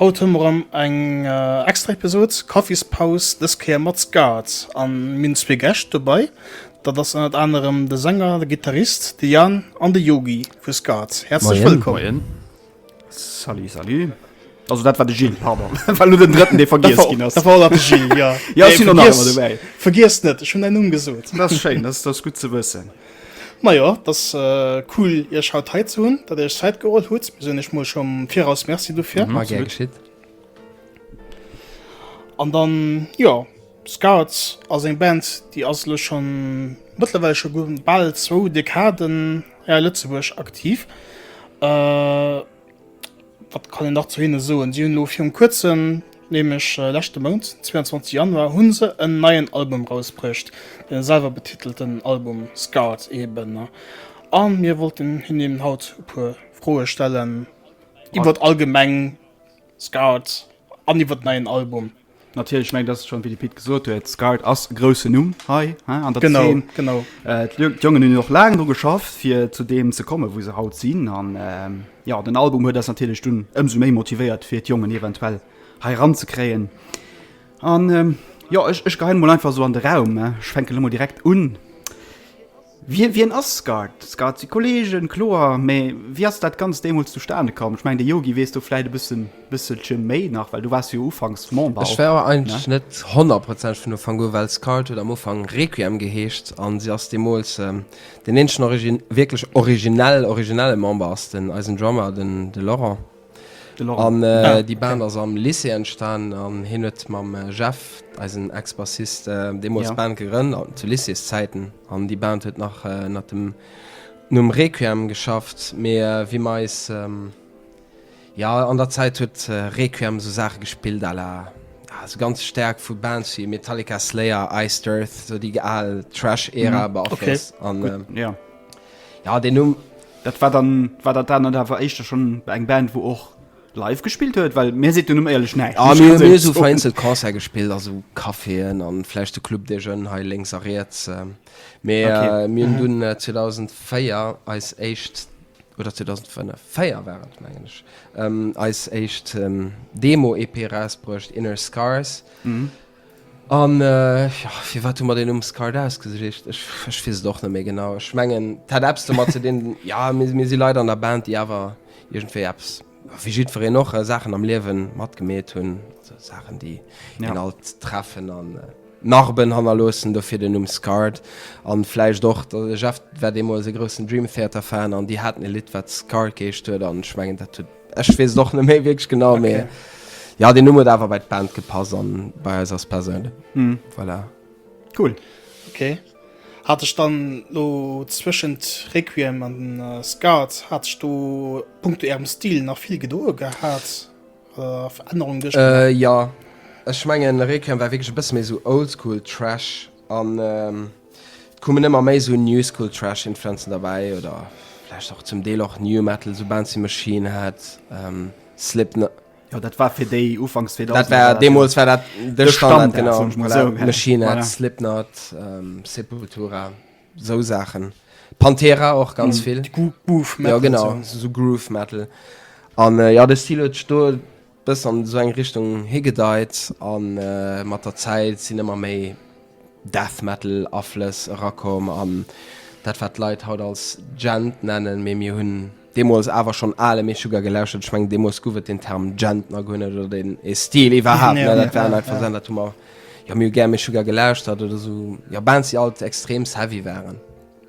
Haut hu mer erëm eng extra Episod Kaffispaus, dës Kéier mat Skat an mir hunn zwee Gäscht dobei. Dat ass ënnert anerem de Sänger, de Gittarist, de Yann an de Yogi vu Skat. Häerzlech wëllkomm! Moien. Salut, salut. Also dat war de Gilles, pardon, war elo den drëtten dee vergiess ginn ass. Dat war de Gilles, jo. Jo, ech sinn och nach ëmmer dobäi. Vergiess net, ech hunn däin Numm gesot. Dat ass schéin, dat ass gutt ze wëssen. Majo, et ass cool iech haut hei ze hunn, datt dir iech Zäit geholl hutt. Mir soen iech mol schonn am Viraus Merci dofir. War gär geschitt. An dann, jo, Scouts ass eng Band, déi ass elo schonn mëttlerweil scho bal zwou Dekaden hei a Lëtzebuerg aktiv. Wat kann een nach zu hinne soen? Si hunn elo virun kuerzem, nämlech leschte Mount, 22 Januar, hunn se en neien Album rausbruecht, den selwer betitelten Album Scarred eben. An mir wollten hinnen haut e puer Froe stellen iwwert allgemeng Scarred. An iwwer den neien Album. Natierlech, ech mengen, dat ass schonn, wéi de Pit gesot huet, Scarred ass e groussen Numm hei an der Zeen. Genau, genau. D'Jongen hunn och laang dru geschafft, fir zu deem ze kommen, wou se haut sinn. An jo, den Album huet eis natierlech dunn ëmsou méi motivéiert, fir d'Jongen eventuell hei eranzekréien. An jo, ech geheien emol einfach esou an de Raum, ech fänken emol direkt un, Wie, wien ass Skat? Skat si Kolleegen, kloer, mee wéi ass dat Ganzt deemools zustane komm? Ech mengen, de Yogi weess do vläicht e bëssen, bësselche méi nach, well du waars jo ufanks Member. Ech war eigentlech net honnertprozenteg vun Ufank u, well Skat huet am Ufank Requiem geheescht a si ass deemools deen eenzegen origi, wierklech originell, originelle Member ass den, eisen Drummer, den, de Laurent. An déi Band ass am Lycée entstanen an hien huet mam Jeff, eisen Ex-Bassist, deemools d'Band gegrënnt, zu Lycéeszäiten. An déi Band huet nach ënnert dem Numm Requiem geschafft, mee wéi mer eis, jo, an der Zäit huet Requiem esou Saache gespillt à la, jo, esou ganz staark vu Bands wéi Metallica, Slayer, Iced Earth, esou déi al Thrash-Ära beaflosst. An Jo deen Numm, dat war dann, war dat anert awer éischter schonn eng Band wou och live gespillt huet? Well mir seet den Numm éierlech näischt, muss ech ganz éierlech soen. Mir hu vereenzel Concerte gespillt a sou Caféen an vläicht de Club des Jeunes hei lénks a riets. Mee mir hunn dunn 2004 eis éischt, oder 2005, 4 war et mengen ech, eis éischt Demo-EP erausbruecht, Inner Scars. An jo, firwat hu mer deen Numm Scart ausgesuecht? Ech, ech weess et och net méi genau. Ech mengen, et hat eppes domat ze dinn, jo, mir, mir si Leit an der Band, déi awer iergendwéi eppes, wéi jiddwereen och, Saachen am Liewe matgemeet hunn, also Saachen, déi een alt treffen a Narben hannerloossen, dofir den Numm Scart. A vläicht och, de Jeff war deemools e groussen Dream Theater Fan an déi haten e Lidd, wat Scart geheescht huet an ech mengen, dat huet. Ech wees et och net méi wierklech genau okay. mee ja den Numm huet awer bei d'Band gepass an bei eis ass perséinlech. Mm. Voilà. Cool. Okay. Hat ech dann lo zwëschent Requiem an den äh, Skat hat ech do Punkto Ärem Stil nach vill gedoe gehat äh, Verännerung duerch Äh, ja, ech mengen Requiem war wierklech e bësse méi so oldschool Trash an ähm, Et kommen ëmmer méi sou New School Thrash Influencen derbäi oder vläicht och zum Deel och New Metal, sou Bands wéi Machine Head, Slipknot. Jo dat war fir déi Ufanks 2000er. Dat war deemools war dat de Standard genau, voilà, Machine Head, Slipknot, Sepultura, sou Saachen, Pantera och ganz vill. Groove Metal. Jo genau, sou Groove Metal an jo de Stil huet sech do, Bëssen an esou eng Richtung higedeit a mat der Zäit sinn ëmmer méi Death Metal Aflëss erakomm an dat wat d'Leit haut als Djent nennen, mee mir hunn deemools awer schonn ale Meshuggah gelauschtert. Ech mengen deemools guff et den Term Djent nach guer net oder deen ee Stil iwwerhaapt net. Dat waren einfach Saachen dat hu mer, jo mir hu gär Meshuggah gelauschtert oder esou, jo, Bands déi alt extreemst heavy waren.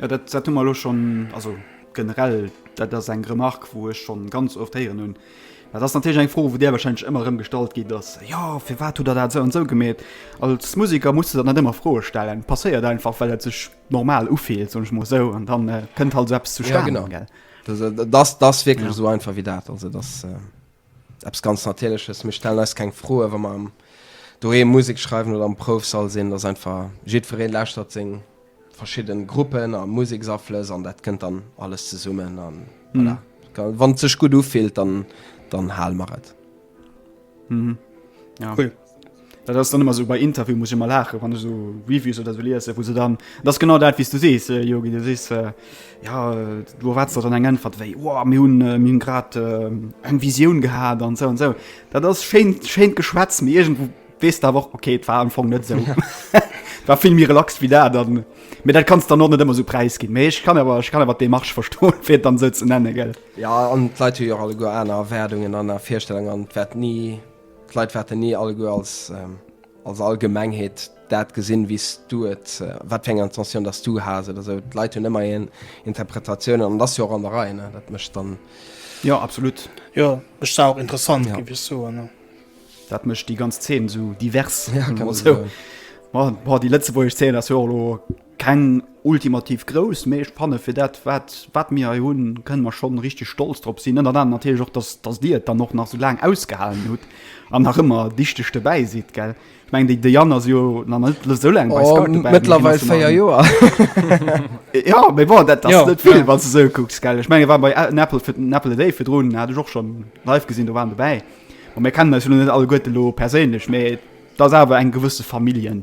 Jo, dat, dat hu mer elo schonn, also generell, dat ass eng Remark, wou ech schonn ganz oft héieren hunn. Dat ass natierlech eng Fro, wou där warscheinlech ëmmer erëm gestallt ginn ass, Jo, firwat hutt Der dat esou an esou gemeet? Als Museker muss de der net ëmmer Froe stellen. Passéiert einfach, well et sech normal ufillt, soen ech mol esou, an dann kënnt halt esou eppes zustane, gell? Dat ass, dat ass wierklech esou einfach wéi dat. Also et ass. Eppes ganz Natierleches. Mir stellen eis keng Froen, wa mer doheem Musek schreiwen oder am Proufsall sinn. Et ass einfach, jiddweree lauschtert seng verschidde Gruppen a Museksaflëss an dat kënnt dann alles zesummen. A voilà, wann et sech gutt ufillt, dann hale mer et. Cool. Dat ass dann ëmmer esou bei Interviewen, muss ech ëmmer laachen, wann ech esou Reviews oder esou liesen, wou se dann, dat ass genau dat, wéi s du sees, Yogi, du sees, jo, du erwaarts der dann eng Äntwert wéi, wow, mir hunn, mir hunn grad eng Visioun gehat an esou an esou. Dat ass schéin, schéint Geschwätz, mee iergendwou weess de awer och, okay, et war am Fong net esou. Et war vill méi relaxt wéi dat an, mee dat kanns de dann och net ëmmer esou präisginn. Mee ech kann awer, ech kann awer d'Demarche verstoen, fir et dann esou ze nennen, gell. Jo, an d'Leit hu jo och alleguer aner Erwaardungen, aner Virstellungen an et wäert ni. D'Leit waerten ni alleguer als als Allgemengheet dat gesinn, wéi s du et, wat fir eng Intentioun datt s du has oder esou. D'Leit hunn ëmmer hir Interpretatiounen an et ass jo och an der Rei, ne? Dat mécht dann. Jo, absolut. Jo, ech sah och interessant, géif ech soen, ne? Dat mécht déi ganz Zeen esou divers, kann ee soen. Bon, déi lëtzebuergesch Zeen ass jo och elo Keng ultimativ grouss, mee ech fanne fir dat, wat, wat mir hei hunn, kënne mer schonn richteg stolz drop sinn. Ënnert anerem natierlech och, dass, dass Dir et dann och nach esou laang ausgehalen hutt an nach ëmmer dichteg dobäi sidd, gell? Ech mengen, déi, déi Anne ass jo nach net esou laang bei Scout dobäi, mee hien ass jo nach en. Oh, méttlerweil véier Joer. Jo, mee bon, dat ass net vill, wann s de esou kucks, gell? Ech mengen, hie war bei en Apple, fir den Apple a Day virdrun hat ech och schonn live gesinn, do war en dobäi. Bon, mir kennen eis jo lo net alleguerte lo perséinlech, mee et ass awer eng gewësse Familljen.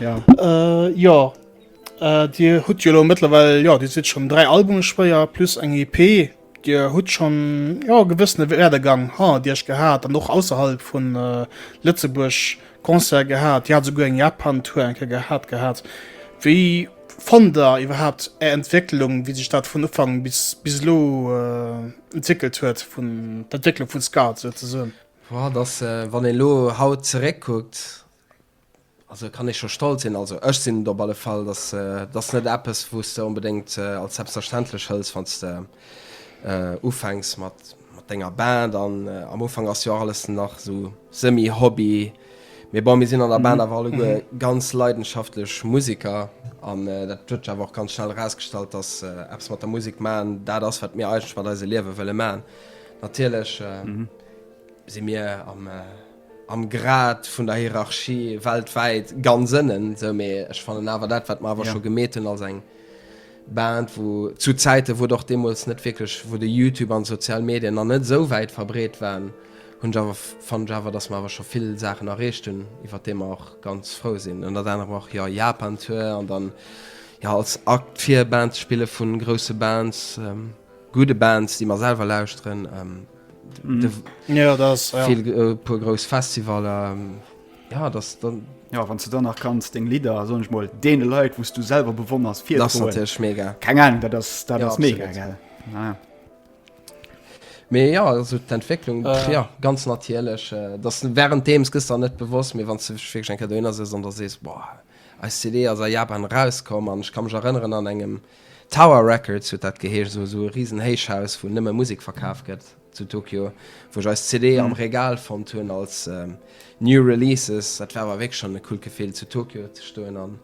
Ja. Äh, jo. Äh, dir hutt jo lo mëttlerweil, jo, dir sidd schonn dräi Albume spéier plus eng EP. Dir hutt schonn, jo, e gewëssene Werdegang hannert iech gehat an och ausserhalb vun Lëtzebuerg Concerte gehat. Dir hat esouguer eng Japan-Tour eng Kéier gehat gehat. Wéi fannt der iwwerhaapt är Entwécklung, wéi sech dat vun Ufank bis, bis elo entwéckelt huet, vun, d'Entwécklung vun Scud souzesoen? Boah, dat ass, wann ee lo haut zeréckkuckt, Also kann ee scho stolz sinn, also ech sinn et op alle Fall, dass dass net eppes wou s de onbedéngt als selbstverständlech hëls wann s de ufänks mat mat denger Band an am Ufank ass jo och alles nach sou semi Hobby. Mee bon mir sinn an der Band awer alleguer ganz leidenschaftlech Museker an dat huet sech awer och ganz schnell erausgestallt, dass eppes mat der Musek maachen dat ass wat mir eigentlech mat eise Liewe wëlle maachen. Natierlech si mir am. am Grad vun der Hierarchie weltwäit ganz ënnen esou, mee ech fannen awer dat wat mer awer scho gemeet hunn als eng Band wou zu Zäiten wou et och deemools net wierklech, wou de Youtube an d'sozial Medien nach net esou wäit verbreet waren, hunn ech awer, fannen ech awer, dass mer awer scho vill Saachen erreecht hunn iwwert déi mer och ganz frou sinn. Ënnert anerem och jo Japan Tour an dann jo als Akt vir Bands spille vu grousse Bands, gudde Bands déi mer selwer lauschteren. ja, das, ja. Viel, äh, pur groß Festival ähm, ja das dann ja wann du dann nach kannst den Lieder so nicht mal den Leute wo du selber bewonners viel das natürlich mega keine Ahnung das das, das ja, mega geil. Ja. Mehr ja also die Entwicklung äh. ja ganz natürlich äh, das während dem es gestern nicht bewusst mir wann du wirklich ein Kadener ist und da siehst boah als CD aus Japan rauskommen und ich kann mich erinnern an engem äh, Tower Records huet dat geheescht, esou esou e risen Héichhaus wou nëmme Musek verkaf gëtt zu Tokio, wou ech eis CD am Regal fonnt hunn als New Releases. Dat war awer wierklech schonn e coolt Gefill zu Tokio ze stoen an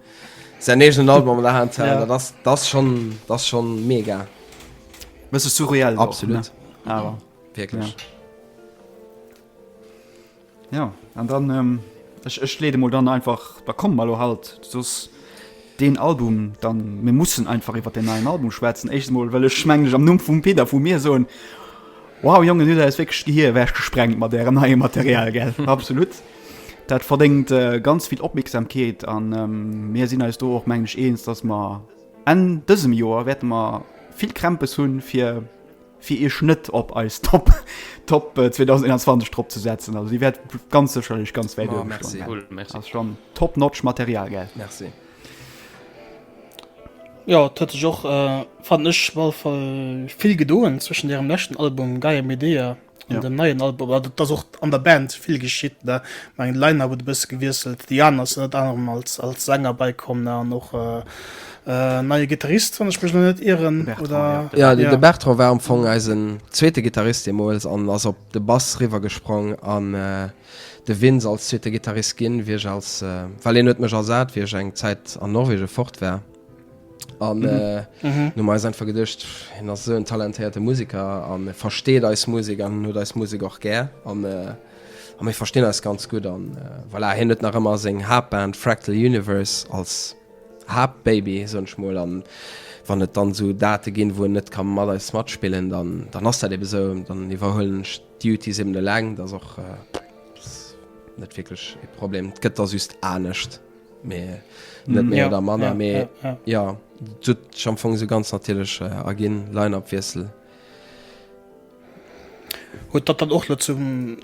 säin eegenen Album an der Hand ze halen. Dat ass schonn, dat ass schonn mega. Bësse surreal och, ne? Absolut, wierklech. Ja, an dann, ähm, ech, ech leede mol dann einfach, da kommen mer lo halt soss deen Album, dann, mir mussen einfach iwwert deen neien Album schwätzen. Éischtes mol wëll ech mengleech am Numm vum Peter, vu mir soen, wow Jongen, hutt eis wierklech d'Gehir ewech gesprengt mat ärem neie Material, gell, absolut, dat verdéngt ganz vill Opmierksamkeet an mir sinn eis do och mengleech eens, dass mer Enn dësem Joer wäerte mer vill Krämpes hunn, fir, fir iech net op eis Top Top 2021 drop ze setzen, also déi wäert ganz sécherlech ganz wäit oben stoen. Merci, cool, merci. Ass schon Top Notch Material, gell? Merci. Jo, et huet sech och, fannen ech, op alle Fall vill gedoen zwëschen ärem leschten Album Gaia Medea an dem neien Album. Oder et ass och an der Band vill geschitt, ne? Mä de Line-Up huet e bësse gewiesselt, de Jan ass ënnert anerem als Sänger bäikomm, ne? An och. Neie Gittarist, wann ech mech elo net ieren, oder? Jo, de Bertrand war am Fong eisen zweete Gittarist deemools an ass op de Bass riwwergesprong. An de Vince als zweete Gittarist ginn, wéi ech als, well hien huet mech ersat, wéi ech eng Zäit an Norwegen fort war. An hunn mir eis einfach geduecht, hien ass esou en talentéierte Museker a versteet eis Musek an huet eis Musek och gär. An mir verstinn eis ganz gutt. An voilà, hien huet nach ëmmer seng Haaptband Fractal Universe als. Haapt Baby soen ech mol an wann et dann esou Date ginn wou en net ka mat eis matspillen dann dann ass dat eben esou dann iwwerhuelen ech d'Duties eben eleng dass och net wierklech ee Problem et gëtt da just anescht mee net méi oder manner mee jo et huet sech am Fong esou ganz natierlech erginn Line-Up Wiessel. Huet datt dann och net zum.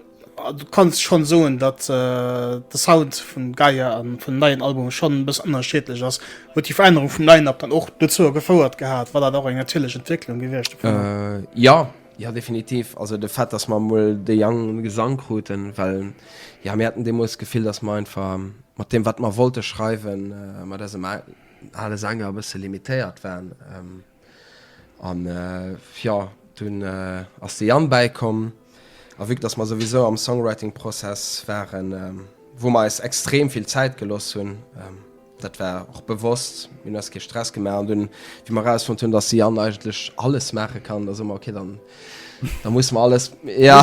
Du kanns schonn soen, datt de Sound vun Gaia a vun neien Album schonn e bëssen ënnerschiedlech ass. Huet déi Verännerung vum Line-Up dann och dozou gefouert gehat? War dat och eng natierlech Entwécklung gewiescht dovunner? Jo, jo definitiv. Also de Fait, datt mer emol de Jang um Gesang kruten, well jo mir haten deemools d'Gefill, datt mer einfach mat deem wat mer wollte schreiwen, mat eisem ale Sänger e bësse limitéiert waren. An jo, dunn ass de Yann bäikomm, a vue que dass mer souwisou am Songwriting-Prozess waren, wou mer eis extrem vill Zäit gelooss hunn, dat war och bewosst, mir hunn eis kee Stress gemaach, an dunn, wéi mer erausfonnt hunn, dass de Yann eigentlech alles maache kann, da soe mer, Okay, dann musse mer alles, jo,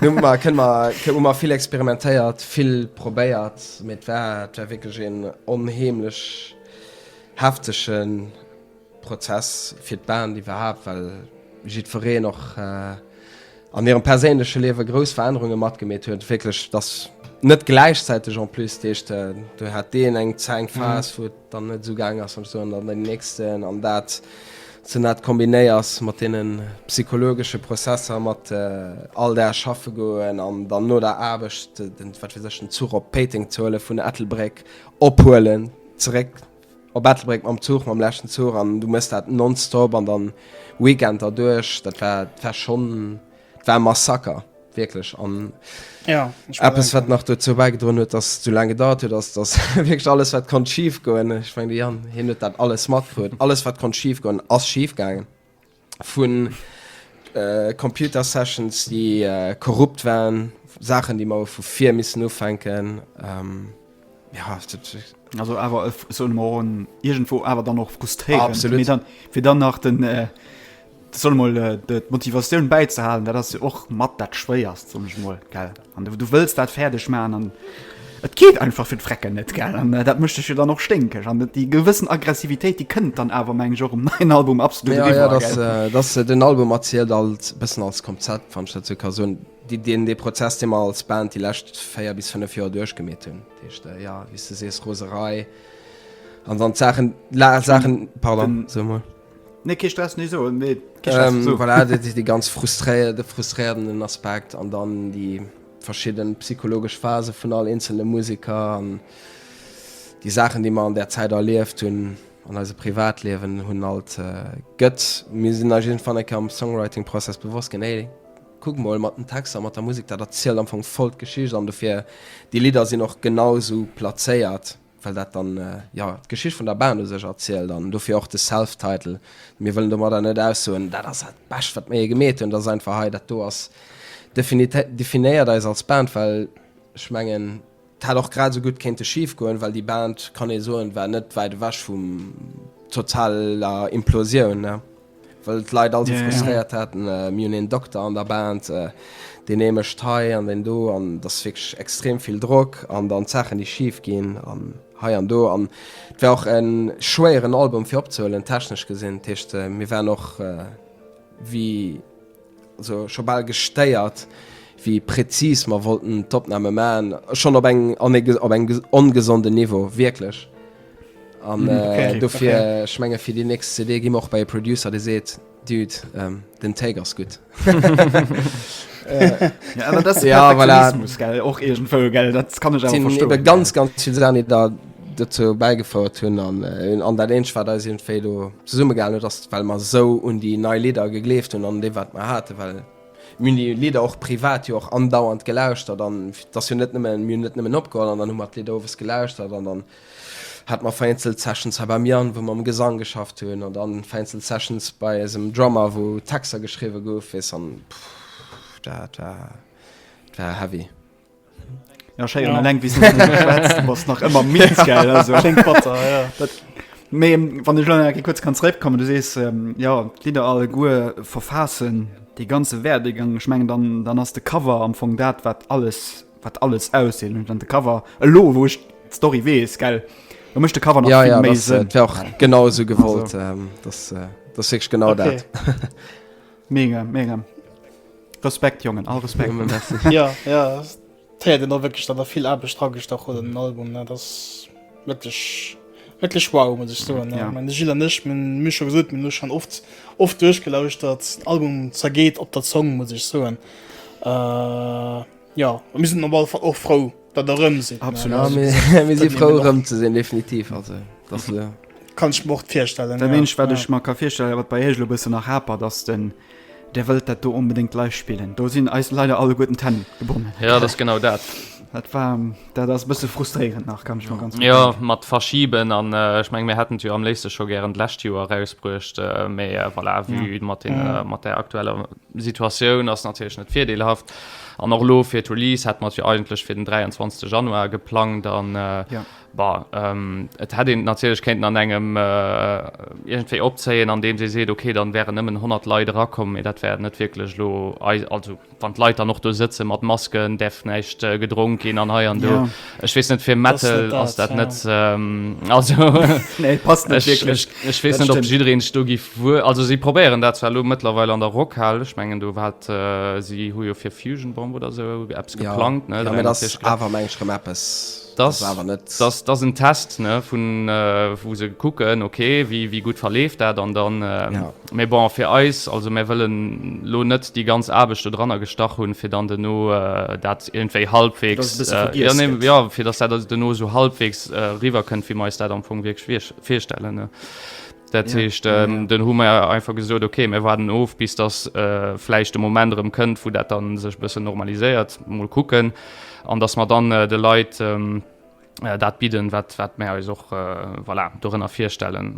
dunn hu mer, kënne mer, hu mer vill experimentéiert, vill probéiert, mee et war, et war wierklech een onheemlech heftegen. Prozess fir d'Band iwwerhaapt, well jiddwereen och an hirem perséinleche Liewe grouss Verännerunge matgemeet huet, wierklech dass net gläichzäiteg en plus, dat heescht do hat deen eng Phas wou et dann net esou gaang ass an esou an dann deen nächsten an dat ze dat kombinéiers mat deene psychologesche Prozesser, mat all Dag schaffe goen an dann no der Aarbecht den, wat weess ech, den Zuch op Péiteng ze huelen, vun Ettelbréck ophuelen, zeréck. Op Ettelbréck mam Zuch, mam leschten Zuch, an du mëss dat non-stop an dann Weekend derduerch, dat war, dat war schonn, dat war e Massaker, wierklech. An Ja, ech eppes, bedenken. wat nach dozou bäigedroen huet, datt et sou laang gedauert huet, ass, datt wierklech alles, wat konnt schifgoen, ech mengen, de Yann, hien huet dat alles matkrut, alles, wat konnt schifgoen, ass schifgaangen. vu Computersessions, déi korrupt waren, Saachen, déi mer vu vir missen ufänken. Also awer e, soe mer en, iergendwou awer dann och frustréierend, mee dann, fir dann nach den, soe mer mol, d'Motivatioun bäizehalen, dat ass jo och mat dat Schwéierst, soen ech mol, gell? An du wëlls dat fäerdeg maachen an et geet einfach fir d'Vrecken net, gell? An dat mécht dech jo dann och sténkeg. An déi gewëssen Aggressivitéit, déi kënnt dann awer, mengen ech, och um neien Album absolut eriwwer, gell? Jo, jo, dat ass, den Album erzielt alt e bëssen als Konzept, wann ech dat sou ka soen, dee Prozess, dee mer als Band déi lescht véier bis fënnef Joer duerchgemeet hunn. Dat heescht, jo, wéi s du sees, Roserei an dann d'Saachen, Saachen, pardon, sou emol. Nee, kee Stress, nee, esou, nee, kee Stress, esou. Ähm, voilà, dat ass dee ganz frustréier, de frustréierenden Aspekt an dann déi verschidden psychologesch Phase vun all eenzele Museker an déi Saachen, déi mer an där Zäit erlieft hunn an eise Privatliewen hunn alt gëtt. Mir sinn eis iergendwann eng Kéier am Songwriting-Prozess bewosst ginn, Hey, kuck mol, mat den Texter, mat der Musek, dat erzielt am Fong voll d'Geschicht an dofir, déi Lidder sinn och genau esou plazéiert. well dat dann jo d'Geschicht vun der Band u sech erzielt an dofir och de Self-Title. Mir wëllen domadder net aussoen, dat ass dat Bescht, wat mir jee gemeet hunn. Dat ass einfach, hei, dat do ass definitiv, definéiert eis als Band, well ech mengen, et hätt och grad esou gutt kéinte schif goen, well déi Band, kann ee soen, war net wäit ewech vum totaler Implosioun. Well d'Leit all sou frustréiert haten, mir hunn een Dokter an der Band, deen ee mécht hei an deen do an et ass wierklech extrem vill Drock an dann d'Saachen, déi schif ginn an hei an do. An et war och e schwéieren Album fir opzehuelen, technesch gesinn. Dat heescht, mir waren och wéi. Also scho bal gestéiert, wéi präzis mer wollten d'Opname maachen. Schonn op eng op eng ongesonden Niveau, wierklech. An dofir, ech menge fir déi nächst CD gi mer och bei e Producer, dee seet, Dude, den Take ass gutt. Jo, voilà. Sinn ebe ganz, ganz vill Saachen, déi der. dozou bäigefouert hunn an an dat eenzegt wat eis iergendwéi do zesummegehalen huet ass well mer esou un déi nei Lidder gegleeft hunn an un dee wat mer haten, well mir hunn déi Lidder och privat jo och andauernd gelauschtert an et ass jo net nëmmen, mir hunn net nëmmen opgeholl an dann hu mer d'Lidder owes gelauschtert an dann hate mer vereenzelt Sessions hei beim Yann wou mer um Gesang geschafft hunn an dann vereenzelt Sessions bei eisem Drummer wou Texter geschriwwe goufen, weess an dat war dat war heavy. Ja, scheier, ja. Leng, wie was nach immer mit geil, also. Butter, ja. Dat, me, wann ich lange kurz kann zurückkommen du sest ähm, ja lieder alle gu verfassen die ganze werdegang schmengen dann dann hast de cover am von dat wat alles wat alles aussehen und dann de cover lo wo ich story we ist geil du möchte cover ja, ja, das, äh, auch genauso gewollt also. ähm, das äh, das ich genau okay. dat Mega, mega. Respekt, Jongen, all Respekt. ja, ja, ja, den da wirklich, da da vill Arbeit dran gestach oder den Album, ne, das wirklich, wirklich wow, muss ich sagen, ne. Ja. Meine Gilles und ich, man, wie schon gesagt, man schon oft, oft durchgelauschtert, Album zergeht ob der Zong, muss ich sagen. Äh, Jo, a mir sinn op alle Fall och frou, datt der erëm sidd. Absolut. Ja, mir, mir si frou erëm ze sinn, definitiv. Also, dass, äh, Kann ech mer och virstellen. Dat ja. Eenzeg, wat ech mer ka virstellen, wat bei Iech elo e bëssen nach hapert, ass den Dir wëllt dat do onbedéngt live spillen. Do sinn eis leider alleguerten d'Hänn gebonnen. Ja, dat ass genau dat. Dat war, dat ass e bësse frustréierend nach, kann ech mer ganz gutt Ja, denken. mat Verschiben an äh, ech meng, mir hätten et jo am léifste scho gären d'lescht Joer erausbruecht, äh, mee äh, voilà, vue mat, den, äh, mat der aktueller Situatioun ass natierlech net virdeelhaft an och elo fir d'Release hätt mer et jo eigentlech fir den 23 Januar geplangt an bah et hätt een natierlech kéinten an engem iergendwéi opzéien an deems ee seet okay dann wären nëmmen 100 Leit erakomm mee dat wär net wierklech elo eis also wann d'Leit dann och do sëtze mat Masken, däerf näischt gedronk ginn an hei an do. Ech wees net fir Metal ass dat net wees net op jireen sto gi vu also si probéieren dat zwar lo mëttlerweil an der Rockhal ech menggen du wat si hu jo fir Fusion Bomb oder se Apps geplangt ne awer meng schrem Appppes dat awer net ass dat en Test ne vun vu se kucken okay wéi wéi gutt verleeft dat an dann. Mee bon, fir eis, also mär wëllen lo net déi ganz Aarbecht dodranner gestach hunn, fir dann duerno dat iergendwéi halbwegs, jo, fir datt dat duerno esou halbwegs eriwwerkënnt, wéi mer eis dat am Fong wierklech virstellen. Dat heescht, dann hu mer einfach gesot, okay, mär waarden of, bis datt vläicht de Moment erëm kënnt, wou dat da sech e bëssen normaliséiert, mol kucken, an datt mer dann de Leit dat bidden, wat mär eis och, voilà, dorënner virstellen.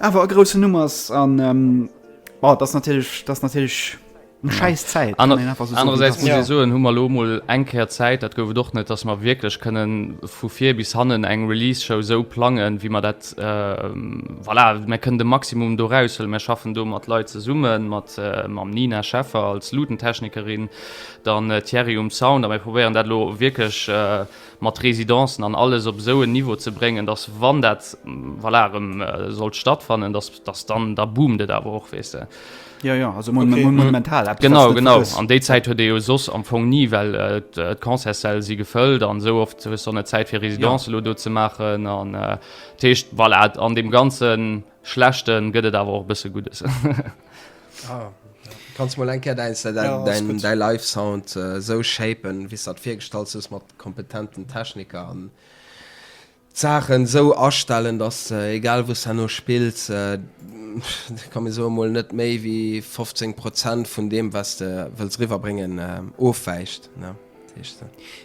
Awer e groussen Numm ass an oh dat ass natierlech, dat ass natierlech eng schäiss Zäit, kann een einfach esou soen. Anerersäits muss ee soen, hu mer elo emol eng Kéier Zäit, dat gouf et och net, dass mer wierklech kënnen vu vir bis hannen eng Release-Show esou plangen, wéi mer dat, voilà, mir kënnen de Maximum do eraushëlen. Mir schaffen do mat Leit zesumme mat, mam Nina Scheffer als Lutentechnikerin, dann Thierry um Sound a mir probéieren dat elo wierklech, mat Residencen an alles op esou en Niveau ze bréngen, datt wann dat, voilà, erëm sollt stattfannen, datt, datt dann, da boomt et awer och, weess de. Jo, jo, also mo, mo, monumental eppes, datt s net vergëss. Genau, genau. An déi Zäit huet ee jo soss am Fong ni, well d'Concertssäll si gefëllt an esou oft hues de och net Zäit, fir Residencen elo do ze maachen an dat heescht, voilà, an deem ganzen. schlechten gëtt et awer och e bësse Guddes. Ah, ja. Kanns mol eng Kéier däin, däin, ja, däin, däin Live Sound äh, sou shapen, wéi s dat virgestallt hues mat kompetenten Techniker an Saachen sou astellen, dass äh, egal wou s herno spills, äh, kann mir so mol net méi wéi 15 Prozent vun deem, was de wëlls riwwerbréngen, äh, ofwäicht. Ne?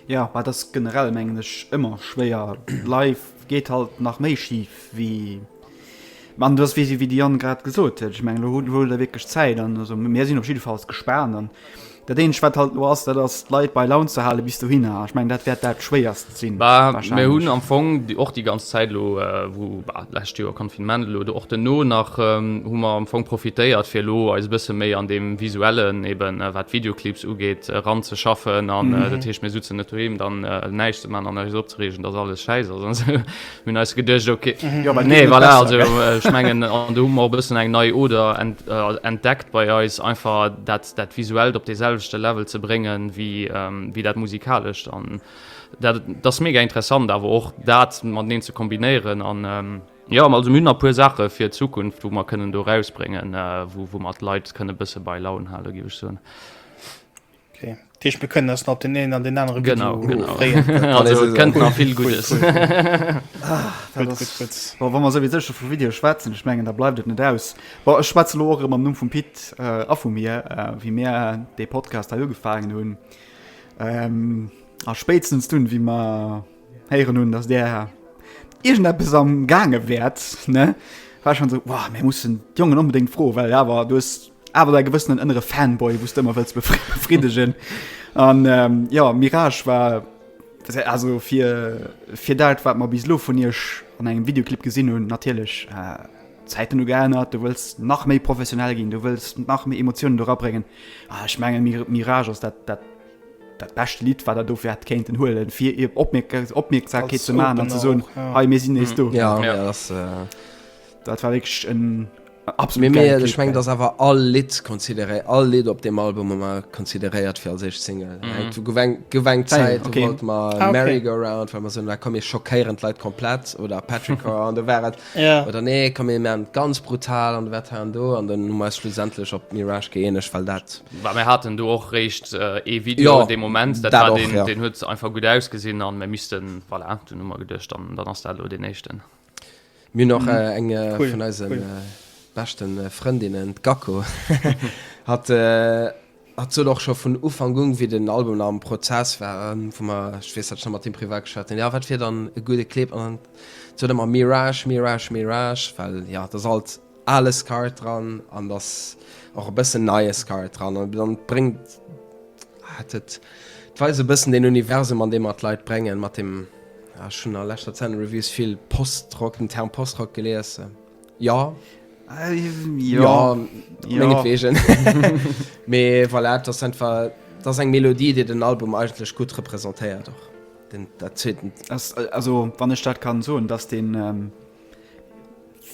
Jo mä et ass generell mengen ech ëmmer schwéier, live geet halt nach méi schif wéi an et ass wéi de Yann grad gesot huet, ech mengen elo huet der wierklech Zäit an also mir sinn op jiddefalls gespaant an dat eenzegt wat halt elo ass dat ass d'Leit bei Laun ze hale bis dohinner, ech mengen dat wäert dat schwéierst Bah, mir hunn am Fong och déi ganz Zäit elo, wou, bah, d'lescht Joer Confinement, elo och duerno nach, hu mer am Fong profitéiert, fir elo eis e bësse méi an deem Visuellen, eben wat d'Videoclips ugeet, eranzeschaffen. An dat heescht, mir sutzen net doheem dann näischt ze man an eis opzereegen, dass alles schäiss ass an esou. Mir hunn eis geduecht, okay, nee, voilà, also ech mengen, an do hu mer och e bëssen eng nei Oder entdeckt bei eis, einfach dat Visuellt op deeselwechte Level ze bréngen, wéi dat Musikalescht. Dat ass mega interessant awer och dat mateneen ze kombinéieren an ähm, jo also mir hunn nach e puer Saache fir d'Zukunft wou mer kënnen do rausbréngen wou wou mer d'Leit kënne bësse bei Laun hale géif ech soen. Okay. Dat heescht mir kënnen eis nach op deen een an deen anere Video Genau, genau. freeën. Also et kënnt nach vill Guddes. Gutt, gutt, gutt. Bon, wa mer souwisou scho vu Video schwätzen, ech mengen da bleift et net aus. Bon, ech schwätze lo och erëm am Numm vum Pit a vu mir, wéi mir dee Podcast hei ugefaangen hunn. A spéitstens dunn, wéi mer héieren hunn, datt där iergendeppes am gaange wäert, ne, war ech schonn esou, Wow, mir mussen d'Jongen onbedéngt froen, well awer, du hues awer däi gewëssenen ënnere Fanboy, wou s de ëmmer wëlls befriddegen. An, jo, Mirage war, also fir dat, wat mer bis elo vun iech an engem Videoclip gesinn hunn, natierlech, Zäiten hu geännert, du wëlls nach méi professionell ginn, du wëlls nach méi Emotiounen do rabréngen. A ech mengen Mir Mirage ass dat, dat, dat bescht Lidd, wat der dofir hätt kéinten huelen, fir ier Opmierk Opmierksamkeet Als ze maachen an ze Opener soen, auch, ja. hei, mir sinn nees do. Ja, Ja. dat ass. Dat war wierklech en Mee, absolut mee geilt ech Lidd, meng, gell. dass awer all Lidd consideréi-, all Lidd op deem Album hu mer consideréiert fir als éischt Single. Eng du gouf eng, gouf eng Zäit, Zäit, do okay. wollte mer Ah, okay. Merry-Go-Round, well mer soen, ah komm, mir schockéieren d'Leit komplett, oder Petrichor, an do war et, oder nee komm mir maachen et ganz brutal an wat hei an do an dann hu mer eis schlussendlech op Mirage gëeenegt, well dat. Well mir haten do och réischt ee Video dee Moment, dat war deen, deen huet einfach gutt ausgesinn a mir missten, voilà, dunn hu mer geduecht, dann, dann ass dat elo deen éischten. Mir hunn och eng vun eise beschte Frëndinnen, d'Gacko, hat Hat sot och scho vun Ufank un, wéi den Album nach am Prozess war, wou mer, ech weess, hat ech nach mat him privat geschwat hunn, jo, wat wier dann e gudde Clip? An dann sot en ëmmer Mirage, Mirage, Mirage, well jo, et ass alt ale Scar dran an et ass och e bëssen neie Scar dran an dann bréngt hat et, et war esou e bëssen deen Universum, an dee mer d'Leit bréngen mat deem, jo, ech hunn a leschter Zäit an de Reviews vill Post-Rock, den Term Post-Rock gelies. Jo. Jo, mengetweegen. Mee voilà, et ass einfach, et ass eng Melodie, déi den Album eigentlech gutt representéiert och. Den, dat zweeten. Ass, also wann ech dat kann soen, dass deen,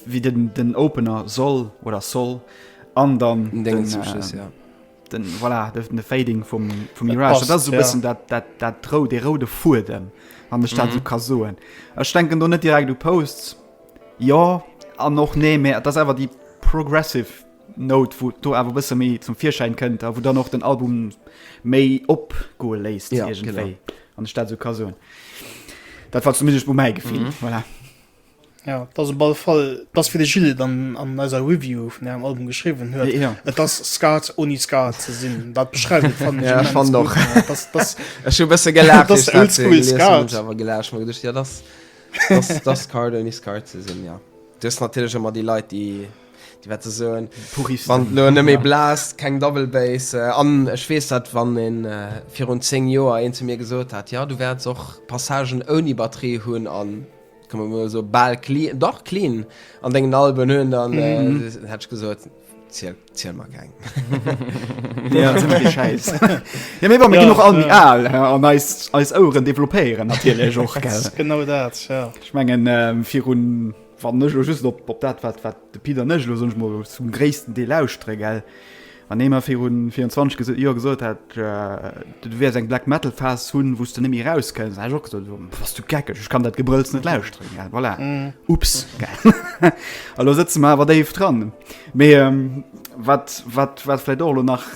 wéi den, den Opener soll oder soll an dann Den Déngen zum Schluss, ja. den, voilà, de, de Fading vum, vum Mirage, passt, dat ass esou e ja. bëssen dat, dat, dat rou, dee roude Fuedem, wann ech dat esou ka soen. Ech denken do net direkt u Posts. Jo an och nee, mä et ass awer déi progressive Note, wou et do awer e bësse méi zum Virschäin kënnt a wou dann och den Album méi opgoe léisst iergendwéi, wann ech dat esou ka soen. Dat war zumindest mol mäi Gefill. Voilà. Jo, et ass op alle Fall dat, wéi de Gilles et an eiser Review vun ärem Album geschriwwen huet, et ass Ska ouni Ska ze sinn. Dat beschreift et, fannen ech, immens gutt. Jo, ech fannt och. Ech hu e bësse gelaacht, wéi ech dat gelesen hunn, hu ech awer gelaacht, well ech geduecht hunn, jo, dat ass. D'Dascard ouni Scard ze sinn, jo. Du hues natierlech ëmmer déi Leit, déi déi wat se soen, wann et elo net méi blaast, keng Double Bass. An ech weess dat, wann ee virun zéng Joer een zu mir gesot hätt, jo, du wäerts och Passagen ouni Batterie hunn a, komme mer mol soen, bal clean, dach clean an dengen Alben hunn, dann hätt ech gesot, Ziel, ziel mal kein. ja, sind die Scheiß. ja, mir wollen ja, noch all die Aal an als, als Ohren developieren, natürlich auch, gell? genau das, ja. Ich meine, ähm, für un, wann nicht nur just ob, ob das, was, was der Peter nicht nur sonst mal zum größten Teil ausstreckt, gell? An dem er für un 24 Jahre gesagt hat, Du wäers eng Black Metal Phase hunn, wou s de net méi eraus kënns. Ech och gesot, bass du geckeg, ech kann dat Gebrëlls net lauschteren. Ja, voilà, ups. Elo sëtze mer awer déif dran. Mee wat, wat, wat vläit och elo nach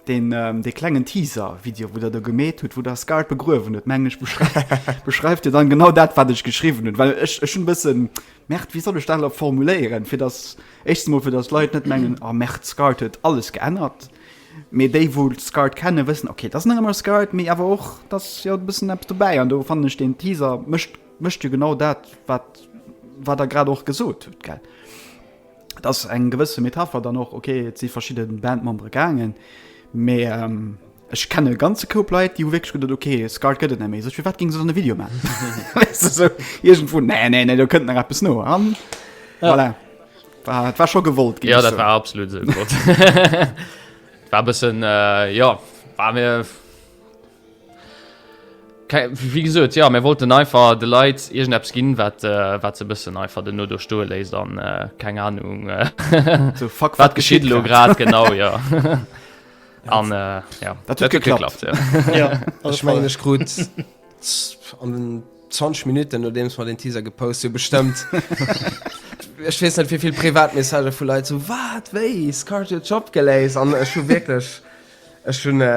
deen, dee klengen Teaser Video, wou Der do gemeet hutt, wou Der Scarred begruewen hutt, mengen ech, beschreift jo dann genau dat, wat ech geschriwwen hunn. Well ech, ech hunn e bësse, merde, wéi soll ech dat elo formuléieren, fir dass, éischstens emol, fir dass d'Leit net mengen, oh merde, Scarred huet alles geännert. Mee déi wou Scarred kennen wëssen ok, dat ass nach ëmmer Scarred, mee awer och et ass jo e bëssen eppes dobäi an do fannen ech deen Teaser mécht mécht jo genau dat wat wat der grad och gesot hutt gell. Et ass eng gewësse Metapher dann och ok, et si verschidde Bandmembere gaangen, mee ech kenne e ganze Koup Leit déi hu wierklech geduet ok Scarred gëtt et net méi, sech firwat géinge se dann e Video maachen weißt de sou iergendwou, nee nee nee do kënnt nach eppes no an voilà. War, et war scho gewollt ginn, Ja, dat war absolut esou gewollt. war bëssen äh, ja war mir wie gesot ja mir wollten einfach de Leiit irgend Apps ginn wat äh, wat ze bëssen einfach den no do stoe léist an äh, keng Ahnung äh, so, fuck, wat geschiet lo grad genau ja. An äh, ja dat huet geklappt. Ja. Ja, ich mein, ich krut an den 20 Minuten nodeems mer den Teaser gepost hunn, bestëmmt, ech weess net, wéi vill Privatmessagen vu Leit, sou, Wat? Wéi? Scarjo Job geléist? An ech hu wierklech, ech hunn, jo,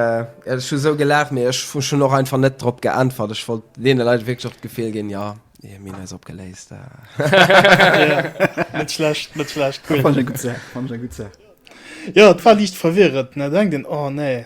ech hu sou gelaacht, mee ech hu schonn och einfach net drop geäntwert. Ech wollt deene Leit wierklech och d'Gefill ginn, Jo, jo, mir hunn eis opgeléist. Net schlecht, net schlecht, cool. Fannen ech eng gutt Saach, fannen ech eng gutt Saach. Jo, et war liicht verwirrend, ne? Da denkt een, Oh, nee.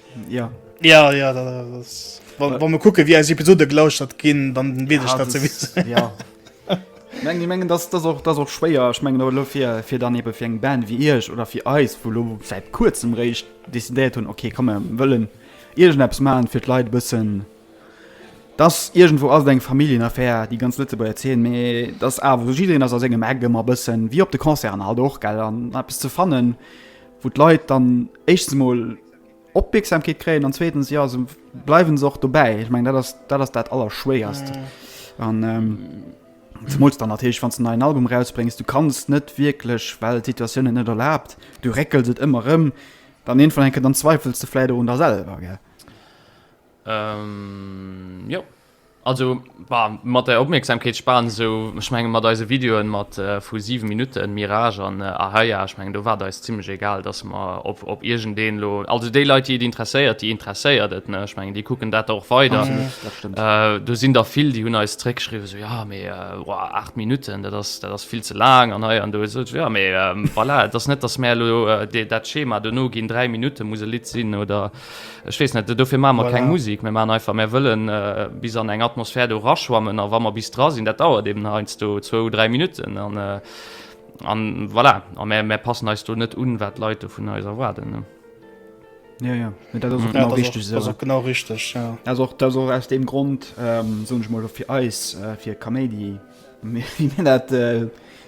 Ja. Ja, ja, da, da, das, wann, wann wir gucken, wie als Episode gelauscht hat gehen, dann will ich dazu wissen. Ja. Mengen, mengen das, das, auch, das auch schwéier ich mengen lo fir fir dann eben fir eng Band wie Iech oder fir eis wo lo seit kurzem réicht décidéiert hunn okay komme wëllen Iegen Apps malen fir d'Leit bëssen dass irgendwo all eng Familienaffär die ganz Lëtze bei erzählen méi das awer jiin ass aus engem Ägem a bëssen wie op de Konzern halt och gell an Apps ze fannen. wou d'Leit dann éischstens emol Opmierksamkeet kréien an zweetens ja se bleiwen se och dobäi. Ech meng dat ass dat ass dat allerschwéierst an ähm, Zemools dann natierlech wann du en neien Album rausbréngs, du kanns net wierklech, well d'Situatioun et net erlaabt, du réckels et ëmmer rëm, dann iergendwann enke dann zweifels de vläicht och un der selwer, gell? Ähm, jo. Also bah, mat der Opmierksamkeetsspan esou, ech mengen mat eise Videoen mat vu 7 Minutten, Mirage an Ahaia, ech mengen do war et eis zimlech egal, dass mer op op iergendeen elo, also déi Leit déi et interesséiert, déi interesséiert et, ne, ech mengen déi kucken dat da och weider. Absolut, dat stëmmt. Do sinn der vill déi hunn eis zréckgeschriwwen esou, jo mee woah 8 Minutten, dat ass dat ass vill ze laang an hei an do, esou jo mee voilà, et ass net dass mär elo dat Schema dono ginn, 3 Minutte muss e Lidd sinn oder. Ech weess net, dofir maache mer keng Musik, mir maachen einfach, mir wëlle bis an eng Atmosphär do eraschwammen a wa mer bis dra sinn, dat dauert eben heiansdo zwou, dräi Minutten an an voilà. A mir, mir passen eis do net un, wat d'Leit do vun eis erwaarden. Jo, jo, dat ass och genau richteg esou. Dat ass och genau richteg, jo. Dat ass och, dat ass och aus deem Grond, soen ech mol, fir eis, fir Kaméidi, wéi mir dat,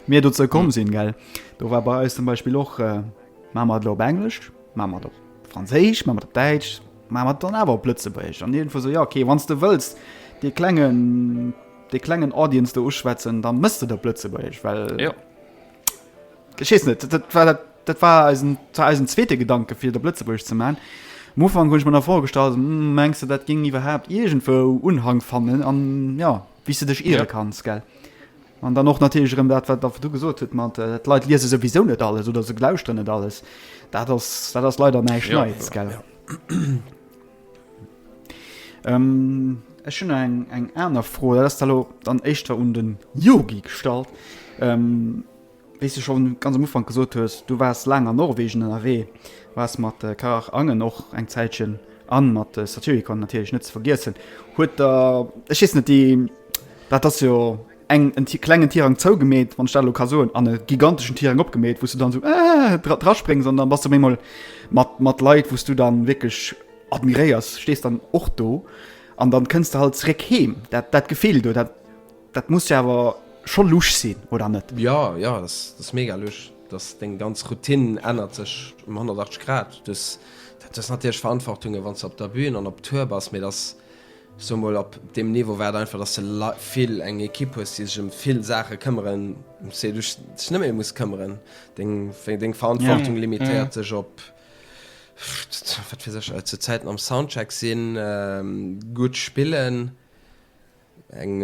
mir dozou komm sinn, gell. Do war bei eis zum Beispill och, maache mer et elo op Englesch, Maache mer et op Franséisch, maache mer et op Däitsch, maache mer et dann awer op Lëtzebuergesch? An iergendwou esou, jo, okay, wann s de wëlls dee klengen, dee klengen Audience do uschwätzen, da mëss de et op Lëtzebuergesch, well. Jo. Ech weess net, dat war dat, dat war eisen, dat war eisen zweete Gedanke fir et op Lëtzebuergesch ze maachen. Am Ufank hunn ech mer nach vorgestallt, mengs de dat géing iwwerhaapt iergendwou Unhang fannen an, jo, wéi s de dech iere kanns, gell? An dann och natierlech erëm dat, wat Der virdu gesot hutt mat, d'Leit liese souwisou net alles oder se lauschteren net alles. Dat ass, dat ass leider näischt Neies, gell. Ech hunn eng, eng aner Fro, dat ass da elo dann éischter un den Yogi gestallt. Wéi s de scho ganz am Ufank gesot hues, du waars laang an Norwegen ënnerwee, waars mat Karach Angen och eng Zäitchen an mat Satyricon natierlech net ze vergiessen. Huet der, ech weess net, déi, dat ass jo eng, en klengen Tirang zougemeet, wann ech dat elo ka soen, an e giganteschen Tirang opgemeet, wou s de dann esou ëh draspréngs an da bass de op eemol mat, mat Leit, wou s du dann wierklech admiréiers, stees dann och do an dann kënns de halt zeréck heem. Dat, dat Gefill do, dat Dat muss jo awer scho lusch sinn, oder net? Jo, jo, dat ass mega lusch. Deng ganz Routine ännert sech ëm 180 Grad. Du hues natierlech Verantwortunge wann s de op der Bün an op Tour bass, mee et ass esou mol op deem Niveau wäert einfach, dass de vill eng Ekipp hues, déi sech ëm vill Saache këmmeren, ëm déi du dech net méi muss këmmeren. Deng Verantwortung limitéiert sech op, wat weess ech, zu Zäiten am Soundcheck sinn, gutt spillen. Eng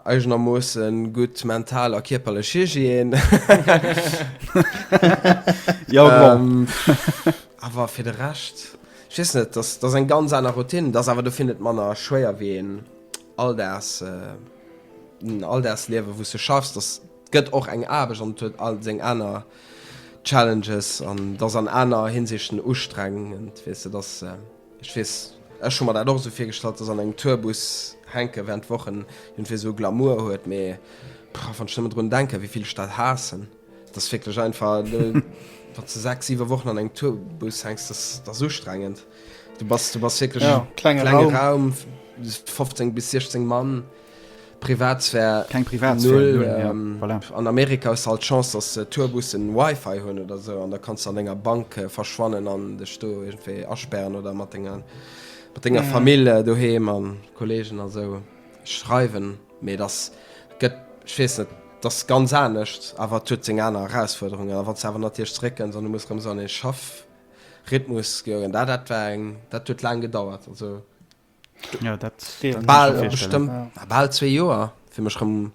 eigenermoossen gutt mental a kierperlech Hygiène. Jo, bon. Awer fir de Rescht, ech weess net, dat ass eng ganz aner Routine. Dat ass awer dofir net manner schwéier wéi een Alldags, en Alldagsliewen, wou s du schaffs. Dat gëtt och eng Aarbecht an et huet all seng aner Challenges an et ass an aner Hinsichten ustrengend, weess de. Dat ass. Ech wees, ech hun mer dat och esou virgestallt, dass an engem Tourbus hänken während de Wochen iergendwéi esou Glamour huet, mee pah wann ech nëmmen drun denken wéi vill ech dat haassen, dass wierklech einfach wanns de 6, 7 Wochen an engem Tourbus hänks, dass dass ustrengend, du bass du bass wierklech klenge Raum 15 bis 16 Mann. Privatsphär keng Privatsphär null ja voilà. An Amerika hues de halt d'Chance dass Tourbussen Wifi hunn oder esou an da kanns de an denger Bank verschwannen an dech do iergendwéi asperren oder mat denger mat denger Famill doheem a Kollegen a sou schreiwen. Mee et ass gëtt ech weess net et ass ganz anescht awer et huet seng aner Erausfuerderungen a wann s de awer natierlech zeréckkënns an du muss erëm esou an ee Schaff Rhythmus goen dat dat war eng dat huet laang gedauert also. Ja, dat bal zwee Joer fir mech rëm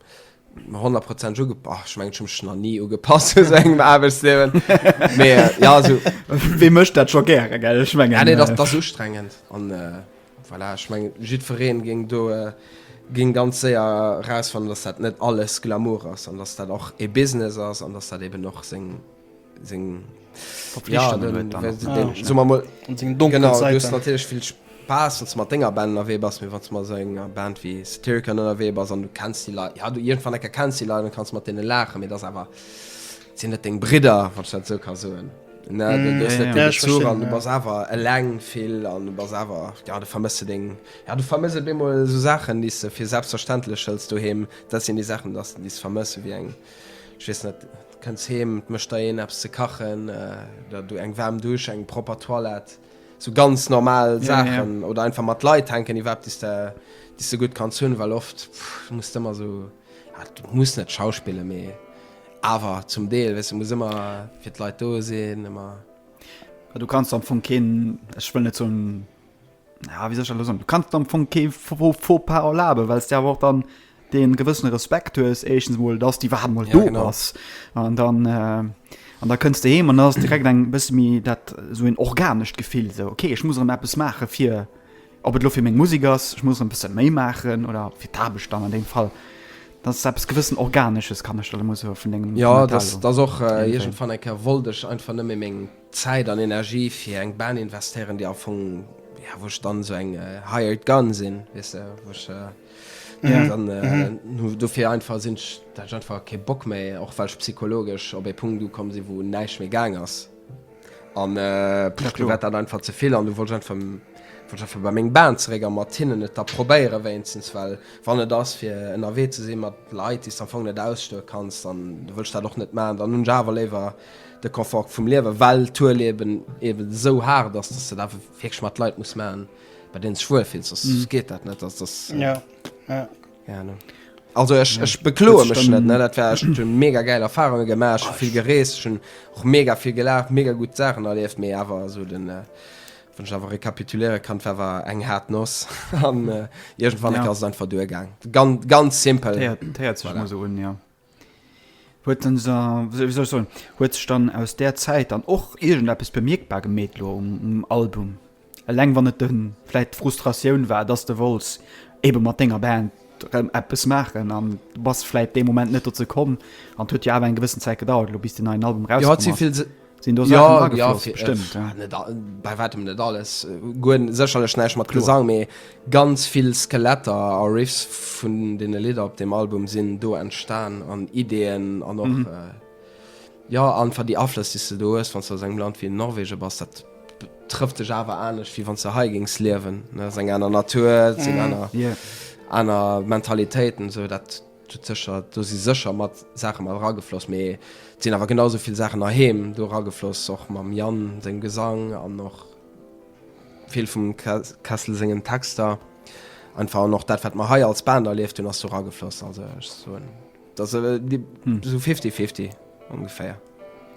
100 Prozent uge oh, ich mein, schon nach nie ugepasst so engem Aarbechtsleben mehr ja so wie möchte dat schon gerne gell ich mein, ja, nee, das, äh, das so strengend an äh, voilà, ich mein, jiddwereen ging do äh, ging ganz séier raus van dass dat net alles Glamour ass an dass dat och e Business ass an dass dat eben noch seng seng Verpflichtungen huet dann och. Ah, okay. Soe mer mol. An seng donklen Genau, du hues Zäiten. natierlech vill Spaass, wann s de mat denger Band ënnerwee bass, mee wann s de mat esou enger Band wéi Satyricon ënnerwee bass an du kenns déi Leit, ja, du iergendwann ecker kenns déi Leit an kanns mat deene laachen, mee et ass awer, et sinn net deng Bridder, wann ech dat esou ka soen. Ne, du, du hues ja, net ja. dee Ja, ech Bezuch verstinn, an du ja. bass awer eleng vill an du bass awer, ja, du vermëss se deng, ja, du vermëss op eemol esou Saachen, déi s de fir selbstverständlech hëls doheem. Dat sinn déi Saachen, dass, déi s de vermëss, ewéi eng, ech weess net, Kënns heem, et mécht der een eppes ze kachen, der du eng waarm Dusch, eng propper Toilette, sou ganz normal Saachen. Oder einfach mat Leit hänken iwwer eppes, déi s de gutt kanns hunn. Well oft muss de ëmmer sou, du muss net schauspillen, mee awer zum Deel, weess de, muss ëmmer fir d'Leit do sinn, ëmmer. Du kanns am Fong keen, ech wëll net soen, Ja, wéi soll ech dat elo soen? Du kanns dir am Fong kee Faux-pas erlaben, well s de awer och dann dee gewëssene Respekt hues, éischtens emol, dass déi iwwerhaapt emol do ass. An dann, an da kënns de heem an da ass et direkt eng bësse méi dat, esou en organescht Gefill, esou, ok, ech muss erëm eppes maache fir, ob et elo fir meng Musek ass, ech muss erëm e bësse méi maachen oder fir d'Aarbecht dann an deem Fall. Dat ass eppes gewëssen Organesches, kann ech der emol soe vun dengem Kommentar elo. Jo, dat ass och iergendwann eng Kéier wollt ech einfach net méi meng. Zäit an Energie fir eng Band investéieren, déi am Fong, ja, wou ech dann esou eng hired gun sinn, weess de, wou ech, ja, dann dofir einfach sinn ech, dat ech einfach kee Bock méi, och well ech psychologesch op ee Punkt ukomm sinn, wou näischt méi gaang ass an do war dat einfach ze vill an do wollt ech einfach, wollt ech einfach bei meng Band zeréck a mat hinnen et da probéiere wéinstens, well wann et ass fir ënnerwee ze si mat Leit, déi s de am Fong net ausstoe kanns, dann wëll ech dat och net maachen, dann hunn ech awer léiwer. de Confort vum Liewen, well d'Hueleben eben esou haart ass, dass de dat wierklech mat Leit muss maachen, bei deenen s dech wuel fills, soss mm. geet dat net. Also, das, äh, ja. Ja. Ja, ne. Also ech, ech bekloe mech net ne dat war ech hunn mega geil Erfahrunge gemaach, vill gereest, hunn och mega vill gelacht, mega gut Sachen erlieft, méi awer so den äh, wann awer rekapituléiere kann wer eng hat noss an äh, irgendwann ja. ass einfach duergang ganz, ganz simpel ja, voilà. so un, ja. huet en se, wéi soll ech soen, huet sech dann aus där Zäit dann och iergendeppes bemierkbar gemeet lo um Album, eleng wann et de vläit d'Frustratioun war, dass de wollts ebe mat denger Band rëm eppes maachen an bass vläit dee Moment net dozou komm an et huet jo awer eng gewëssen Zäit gedauert elo bis deen neien Album erauskom ass. Sinn do Saachen agefloss? Ja, ja, bestimmt, ja. Bei wäitem net alles. Guer sécherlech näischt mat Gesang, mee ganz vill Skeletter a Riffs vun deene Lidder op deem Album sinn do entstan, an Ideeën an och, jo, einfach déi Aflëss, déi s de do hues, wann s de aus engem Land wéi Norwegen bass. Dat trëfft dech awer anescht, wéi wann s de hei géings liewen. Et ass eng aner Natur, et sinn aner, aner Mentalitéiten, esou dat. Do sécher, do si sécher mat Saache mat eragefloss, mee et sinn awer genau esou vill Saachen nach heem do eragefloss, och mam Yann sengem Gesang an och vill vum Kessel sengen Texter einfach an och dat, wat mer hei als Band erlieft hunn, ass do eragefloss. Also ech soen, et ass esou fifty-fifty ongeféier.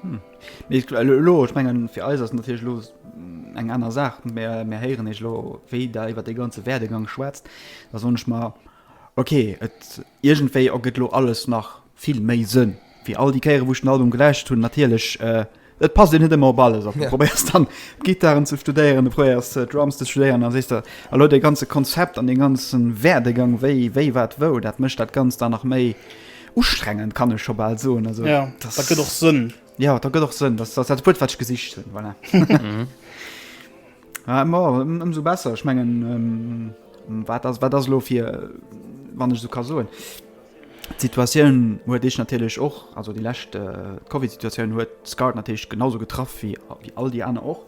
Mee ech elo, ech mengen, fir eis ass et natierlech elo eng aner Saach, mä mir héieren iech elo, wéi der iwwer dee ganze Werdegang schwätzt, da soen ech mer, Ok, et iergendwéi ergëtt elo alles nach vill méi Sënn, wéi all déi Kéieren, wou ech den Album gelauschtert hunn. Natierlech, et passt een net ëmmer op alles op. Du probéiers dann, d'Gittaren ze studéieren, du probéiers, d'Drums ze studéieren, da sees de, elo dee ganze Konzept an dee ganze Werdegang, wéi, wéi, wat, wou, dat mécht dat Ganzt dann nach méi ustrengend, kann ech scho bal soen. Also, dat. Jo, dat gëtt och Sënn. Jo, dat gëtt och Sënn. Dat ass dat Wuert, wat ech gesicht hunn, voilà. Ma ëmsou besser. Ech mengen, wat ass, wat ass elo fir, wann ech esou ka soen, d'Situatioun huet Iech natierlech och, also déi lescht, d'Covidsituatioun huet Scout natierlech genau esou getraff wéi all déi aner och.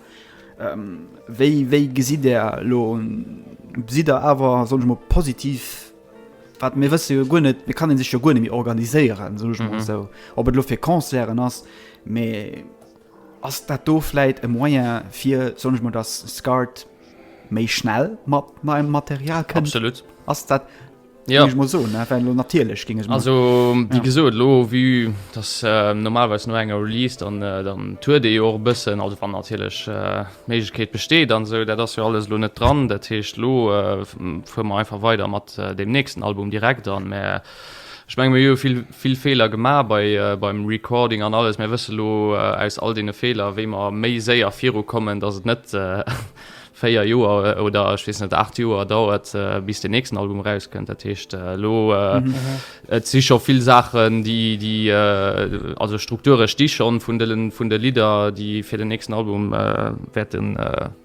Wéi, wéi gesitt Der elo, sidd Der awer, soen ech emol, positiv, wat, mir wësse jo guer net, et kann ee sech jo guer net méi organiséieren, soen ech emol esou, ob et elo fir Concerten ass, mee. Ass dat do vläit e Moyen fir, soen ech mol, dass Scart méi schnell mat neiem Material kënnt? Absolut. Ass dat, ja, géing ech mol soen, ne, well lo natierlech géing ech mol. Also, wéi gesot, elo, vue dass normalerweis no enger Release dann, dann tourt ee jo och e bëssen, also wann natierlech d'Méiglechkeet besteet an esou, dat ass jo alles elo net dran. Dat heescht, elo fuere mer einfach weider mat deem nächsten Album direkt an. Mä Ech menge mir hu jo vill, vill Feeler gemaach bei, beim Recording an alles. Mir wësse lo aus all deene Feeler, wéi mer méi séier virukommen, dass et net véier Joer oder ech weess net acht Joer dauert, bis deen nächsten Album erauskënnt. Dat heescht elo, et si scho vill Saachen, déi, déi, also Strukture sti schonn vun de, vun de Lidder, déi fir den nächsten Album wäerten,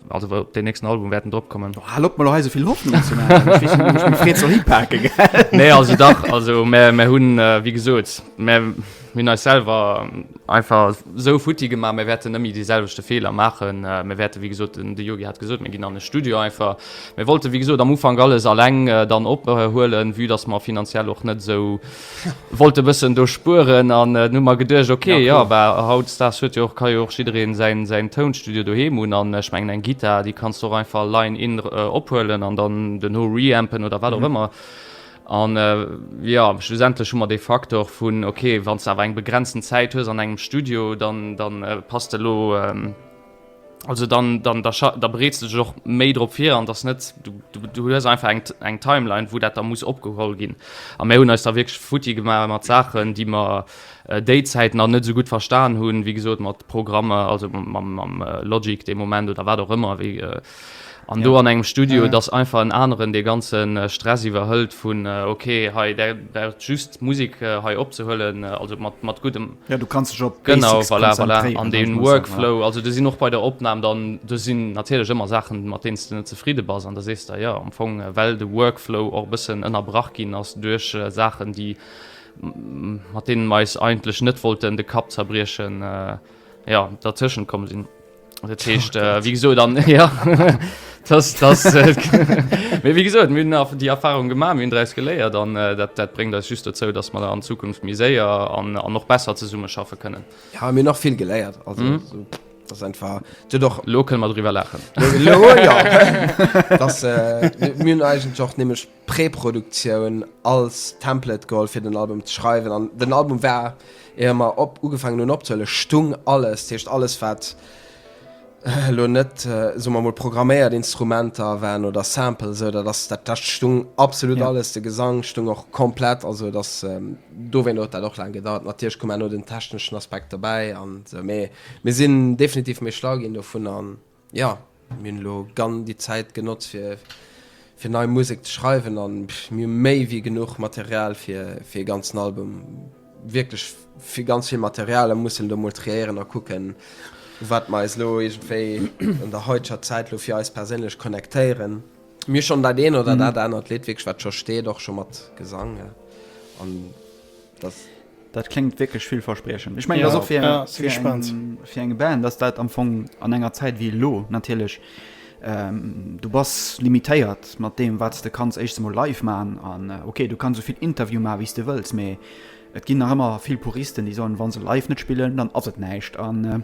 Also wou op den nächsten Album wäerten drop kommen. Oh, hal op mal hei esouvill Hoffnung ze maachen. Ech weess net, wou ech mech freet soll hipake, gell? Nee, also dach, also mär, mär hunn, wéi gesot, mär hunn eis selwer einfach esou futti gemaach, mär wäerten net méi dee selwechte Feeler maachen. Mär wäerten, wéi gesot, den de Yogi hat gesot, mär ginn an e Studio einfach. Mär wollte wéi gesot am Ufank alles alleng dann ophuelen, vue dass mer finanziell och net esou, Wollt e bëssen do spueren an dunn hu mer geduecht, ok, jo, bah, hautdesdaags huet jo och, ka jo och jiddereen säin, säin Tounstudio doheem hunn an ech mengen, eng Gittar, déi kanns de och einfach line-in ophuelen an dann den Ho reampen oder wat och ëmmer. An, jo, schlussendlech hu mer dee Faktor vun, ok, wann s de awer eng begrenzten Zäit hues an engem Studio, dann, dann passt de elo, Also dann, dann da, da bereets du dech och méi drop fir an dass net du, du, du hues einfach eng, eng Timeline, wou dat da muss opgeholl ginn. A mir hunn eis da wierklech futti gemaach mat Saachen, déi mer äh, déizäit nach net sou gutt verstan hunn, wéi gesot mat Programmer, also mam, mam äh, Logic de Moment oder wat och ëmmer, wéi, äh, An do an engem Studio, et ass einfach en aneren, dee ganze Stress iwwerhëlt vun, okay, hei, där braucht just d'Musek hei opzehuelen, also mat, mat guddem. Jo, du kanns dech op d'Basics konzentréieren. Genau, voilà, voilà. An dee Workflow, also do sinn och bei der Opnam dann, do sinn natierlech ëmmer Saachen, mat deenen s de net zefridde bass an da sees de, jo, am Fong, well de Workflow och e bëssen ënnerbrach ginn ass duerch Saachen, déi, mat deenen mer eis eigentlech net wollten de Kapp zerbriechen, jo, dertëschent komm sinn. Dat heescht, äh, wie gesot dann ja. Das, das, äh, wie gesagt, mir nach die Erfahrung gemacht mir dreis geléiert dann äh, dat, dat bringt das just dazu dass man an Zukunft miséier an, an noch besser zu summe schaffe können ja mir noch viel geléiert also mhm. so, das einfach du doch local mal drüber lachen lo, lo, ja. das, äh, mir eigentlich auch nämlich Preproduktioun als Template geholl fir den Album ze schreiwen an den Album war ier mer op ugefaangen hunn opzehuelen stung alles, dat heescht alles wat elo net soe mer mol programméiert Instrumenter waren oder Samples esou dat ass dat dat stung absolut yeah. alles, de Gesang stung och komplett also et ass ähm, dowéint huet dat och laang gedauert. Natierlech koum herno den techneschen Aspekt dobäi an esou mee mir sinn definitiv méi schlau ginn dovun an Jo, mir hunn elo gann déi Zäit genotzt fir fir nei Musek ze schreiwen an mir hu méi wéi genuch Material fir fir ee ganzen Album, wierklech fir ganz vill Material a mussen elo mol triéieren a kucken wat mer eis elo iergendwéi an der haiteger Zäit elo fir eis perséinlech connectéieren. Mir hu schonn dat een oder dat anert Lidd wierklech wat scho steet och scho mat Gesang an. dass dat kléngt wierklech villverspriechend. Ech mengen, dass och fir eng Band, dass dat am Fong an enger Zäit wéi elo natierlech, du bass limitéiert mat deem, wat s de kanns éischtens emol live maachen. An okay, du kanns esou vill Interviewe maachen, wéi s de wëlls, mee et ginn nach ëmmer vill Puristen, déi soen, wa se live net spillen, dann ass et näischt. An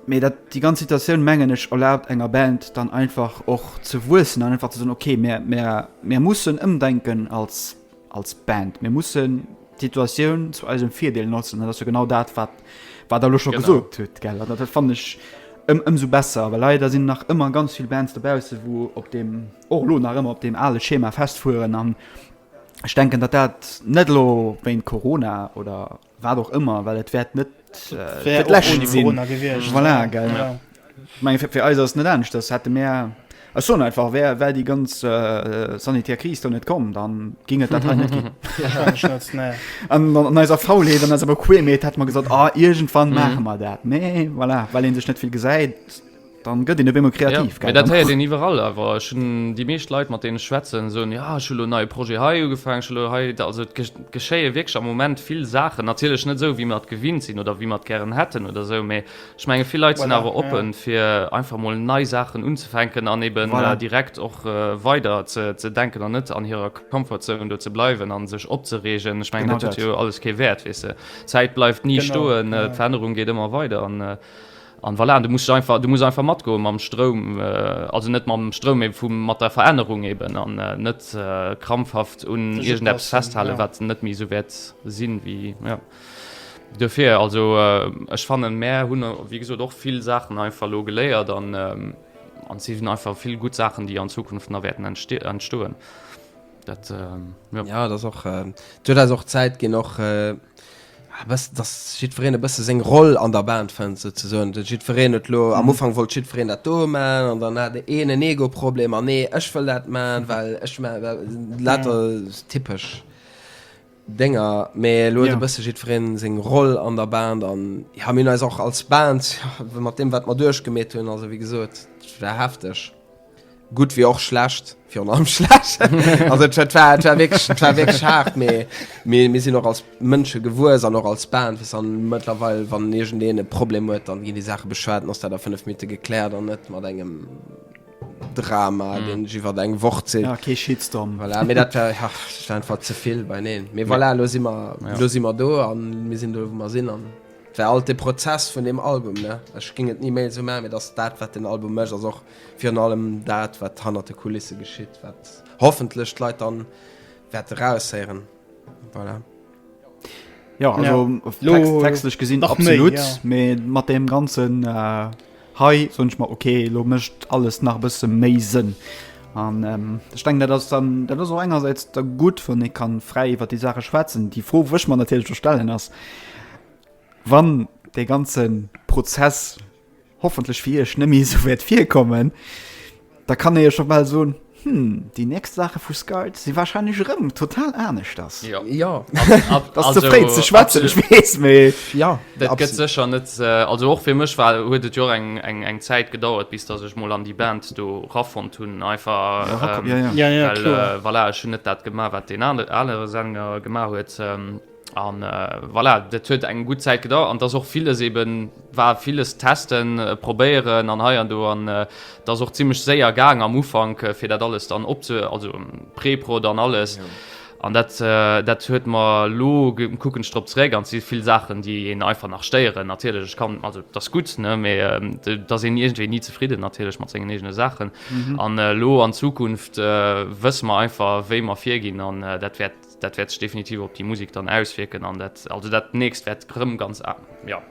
mee dat déi ganz Situatioun, mengen ech, erlaabt enger Band dann einfach och ze wuessen an einfach ze soen, okay, mir mussen ëmdenken als. als Band. Mir mussen d'Situatioun zu eisem Virdeel notzen. Dat ass jo genau dat, wat wat der lo scho gesot huet gell. Dat dat fan ech ëm ëmsou besser. Well leider sinn nach ëmmer ganz vill Bands dobausse, wou op deem och lo nach ëmmer op deem ale Schema festfueren. An ech denken, datt dat net elo wéint Corona oder Wat och ëmmer, well et wäert net äh, lächen sinn. Voilà, gell. Ja. Meng fir eis ass net ernst, das hätte mé Ech so einfach wär well die ganz äh, sanitär Kris do net kom, dann ging et dat net gin. An neiser Faulheet an awer Queerméet hat man gesot a ah, Igent wann mhm. machen mal dat. Nee voilà, well en sech net vill gesäit. Dann gëtt een op eemol kreativ. Jo, dat héiert een iwwerall awer. Ech hunn déi meescht Leit, mat deenen ech schwätzen, soen, jo, ech hu lo en neie Projet hei ugefaangen, ech hu lo hei. Also et geschéie wierklech am Moment vill Saachen. Natierlech net esou, wéi mer et gewinnt sinn oder wéi mer et gären hätten oder esou, mee ech menge vill Leit sinn awer oppe fir einfach mol nei Saachen unzefänken an eben direkt och weider ze denken an net an hirer Comfortzone do ze bleiwen a sech opzereegen. Ech mengen, dat huet jo alles kee Wäert, weess de. D'Zäit bleift ni stoen, d'Verännerung geet ëmmer weider. An voilà, du muss einfach, du muss einfach matgoen mam Stroum, also net mam Stroum, mee vum, mat der Verännerung eben, an net krampfhaft un iergendeppes festhalen, wat net méi esou wäert sinn, wéi, jo. Duerfir, also ech fannen, mär hunn, wéi gesot, och vill Saachen einfach elo geléiert, an et sinn einfach vill gutt Saachen, déi an Zukunft nach wäerten entstoen. Dat jo dat och huet eis och Zäit ginn och bës datt jiddwereen e bësse seng Roll an der Band fënnt sou ze soen. Jiddwereen huet lo am Ufank wollt jiddwereen dat do man an dann hat een en Ego-Problem an nee ech wëll dat man, well ech man dat lauter typesch Dénger. Mee elo huet e bësse jiddwereen seng Roll an der Band an jo mir hunn eis och als Band mat deem wat mer duerchgemeet hunn also wéi gesot war hefteg. Gutt wéi och schlecht, virun allem schlecht. Also et war, et war, et war wierklech, et war wierklech haart, mee mir, mir sinn och als Mënsche gewuess an och als Band, weißt du. An mëttlerweil, wann iergendeen e Problem huet, dann ginn déi Saache beschwat, dann ass dat a fënnef Minutte gekläert an net mat engem Drama, deen sech iwwert eng Woch zitt. Ja, kee Shitstorm. Voilà, mee dat war, ja, dat war einfach ze vill beieneen. Mee voilà, elo si mer, elo si mer do a mir sinn do, wou mer sinn. An et war alt de Prozess vun deem Album, ne. Ech géing et ni méi esou maachen, mee et ass dat, wat den Album mécht, ass och. Virun allem dat, wat hannert de Kulisse geschitt, wat hoffentlech d'Leit dann wäerte raushéieren. Voilà. Jo, also Text, textlech gesinn absolut, méi, ja. mee mat deem ganzen hei soen ech mer, okay, elo mécht alles nach e bësse méi Sënn. An ähm, ech denken, dat ass dann dat ass och engersäits da gutt, wann ee kann fräi iwwer déi Saache schwätzen. Déi Fro wëch mer natierlech stellen ass, wann dee ganze Prozess, hoffentlech fir iech nëmme esou wäert virkommen, da kann ee jo scho bal soen, Hm, déi nächst Saache vu Skype si wahrscheinlech erëm total aneschters. Jo, ass ze fréi ze schwätzen, ech weess, mee jo. Dat gëtt sécher net, also och fir mech war, huet et jo och eng Zäit gedauert, bis datt ech mol an déi Band do rafonnt hunn, einfach, well, voilà, ech hunn net dat gemaach, wat deen anere Sänger gemaach huet. An voilà, dat huet eng gutt Zäit gedauert an dass och villes eben war, villes testen, probéieren an hei an do an dat ass och zimmlech séier gaang am Ufank, fir dat alles dann opze-, also Preprod an alles. An dat, dat huet mer elo, kucken ech drop zeréck an et si vill Saachen, déi een einfach nach stéieren. Natierlech, ech kann, also et ass gutt, ne, mee et ass een iergendwéi ni zefridden natierlech mat sengen eegene Saachen. An elo an Zukunft wësse mer einfach, wéi mer virginn an dat wäert, Dat wäert sech definitiv op déi Musek dann auswierken an dat also dat nächst wäert rëm ganz a ja.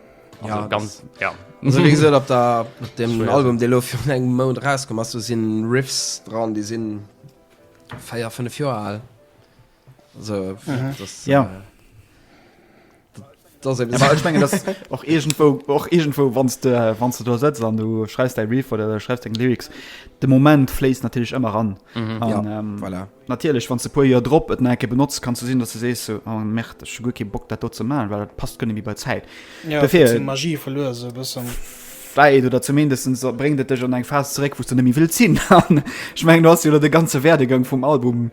Also ja, ganz ja. Also wéi gesot op der op dem Schwer. Album dee lo fir engem Mount rauskomm ass, do sinn Riffs dran, déi sinn 4, 5 Joer al. Also mhm. das, ja. Äh, Ech mengen dass och iergendwou och iergendwou wanns de wanns de do sëtz an du schreifs däi Riff oder schreifs deng Lyrics de Moment fléisst natierlech ëmmer ran mhm. an, ja, ähm, voilà. natierlech wann ze puer Joer drop et enke benotzt kannst du sinn dass du sees so, oh, Mäert ech gu ke Bock dat do ze malen well dat passt gënne wie bei Zäit ja, Dafir, Magie verluer se bëssen wei du dat zumindestens so bringt et dech an eng Phas zeréck wos du nemmi wild sinn an schmengen du hast jo de ganze Werdegang vum Album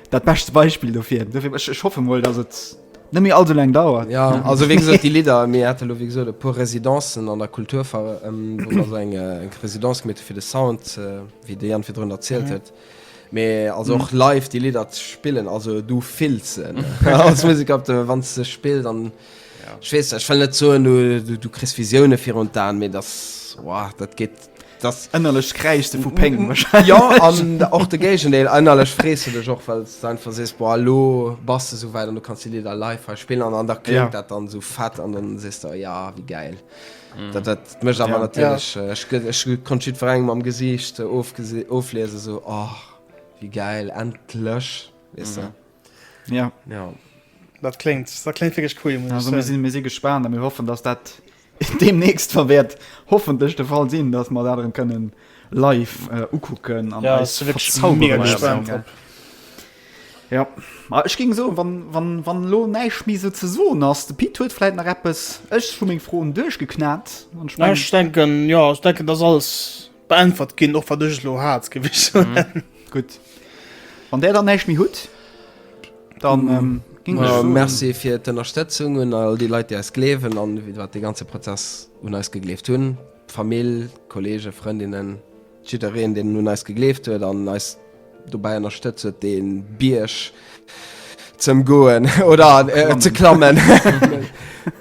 Dat bescht Beispill dofir. Dofir ech, ech hoffe mol, dass et net méi all sou laang dauert. Ja, also wéi gesot, déi Lidder, mir hate lo wéi gesot e puer Residencen an der Kultur, wou mer esou eng eng Residence gemeet hu fir de Sound, wéi de Yann virdrun erzielt huet. Mee also och live déi Lidder ze spillen, also du fills se als Museker op de, wann s de spills an, ech weess, ech wëll net soen, du kriss Visioune virun d'Aen, mee dass, wow, dat geet. Datt ënnerlecht kräischs de vu Péng wahrscheinlech. Jo, an och de Géigendeel, ënnerlech frees de dech och, well s de einfach sees, boah, elo bass de esou wäit an du kanns déi Lidder live hei spillen an an da kléngt dat dann esou fett an dann sees de, ja, wéi gäil dat dat mécht. Awer natierlech, ech gëtt, ech konnt jiddwerengem am Gesiicht ofgesi, ofliesen, esou, oh, wéi gäil, endlech, weess de. Ja. Jo. Dat kléngt, dat kléngt wierklech cool, muss ech soen. Also mir si, mir si gespaant a mir hoffen, datt dat. Deemnächst wert hoffentlech de Fall sinn, dass mer dat erëm kënnen live ukucken an eis verzauberen. Jo, ma ech géing soen, wann, wann, wann elo näischt méi esou ze soen ass, de Pit huet vläit nach eppes, ech hu meng Froen duerchgeknat. Ech denken, jo, ech denken, dass alles. Beäntwert ginn, och wat ech elo hat, géif ech soen. Mhm. Gutt. Wann Där dann näischt méi hutt, dann. Mhm. Äh, merci fir d'Ënnerstëtzung un all déi Leit, déi eis gleewen an wat de ganze Prozess un eis gegleeft hunn. D'Famill, Kollege, Frëndinnen, jiddereen, deen un eis gegleeft huet an eis dobäi ënnerstëtzt huet, dee Bierg z'ëm goen oder äh, ze klammen.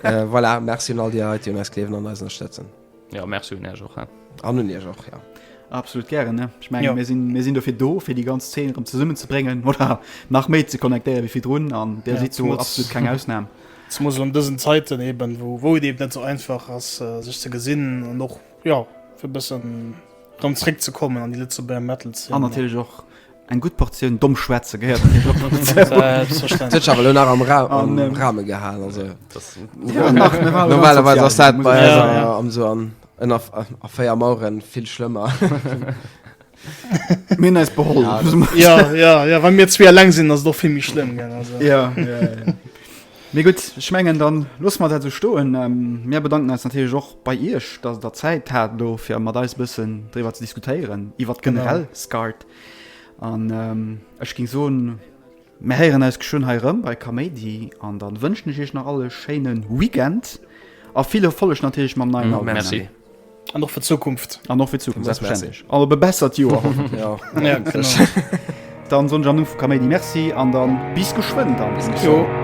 äh, voilà, merci un all déi Leit, déi un eis gleewen an eis ënnerstëtzen. Jo, merci un Iech och, he. An un Iech och, jo. Absolut gären, ne? Ech menge, mir sinn, mir sinn dofir do, fir déi ganz Zeen erëm zesummenzebréngen oder nach méi ze connectéiere wéi virdrun an Dir sidd do absolut keng Ausnam. Zemoos an dësen Zäiten eben, wou, wou et eben net sou einfach ass, sech ze gesinn an och, jo, fir e bëssen dran zréckzekommen an déi Lëtzebuerger Metal-Zeen. An natierlech och Eng gutt Portioun domm schwätze gehéiert an deng Operatioun. D'Sech awer elo nach am Rahme gehalen, also normalerweis ass dat bei eis esou ënner a véier Maueren vill schlëmmer. Mir hunn eis beholl. Jo, jo, jo, wa mir zwee eleng sinn, ass et och vill méi schlëmm, gell, also. Jo, jo, jo. Mee gutt, ech mengen, dann loosse mer dat esou stoen. Mir bedanken eis natierlech och bei Iech, dass Der Zäit hat elo fir mat eis e bëssen driwwer ze diskutéieren iwwert generell Scart. An ech ging soen, mär héieren eis geschwënn hei erëm bei Kaméidi an dann wënschen ech iech nach all e schéinen Weekend a vill Erfolleg natierlech mam neien Album. Merci. An och fir d'Zukunft. An och fir d'Zukunft, selbstverständlech. An op e bessert Joer hoffentlech. Jo, genau. Dann soen ech am Numm vu Kaméidi Merci an dann bis geschwënn dann. Bis geschwënn.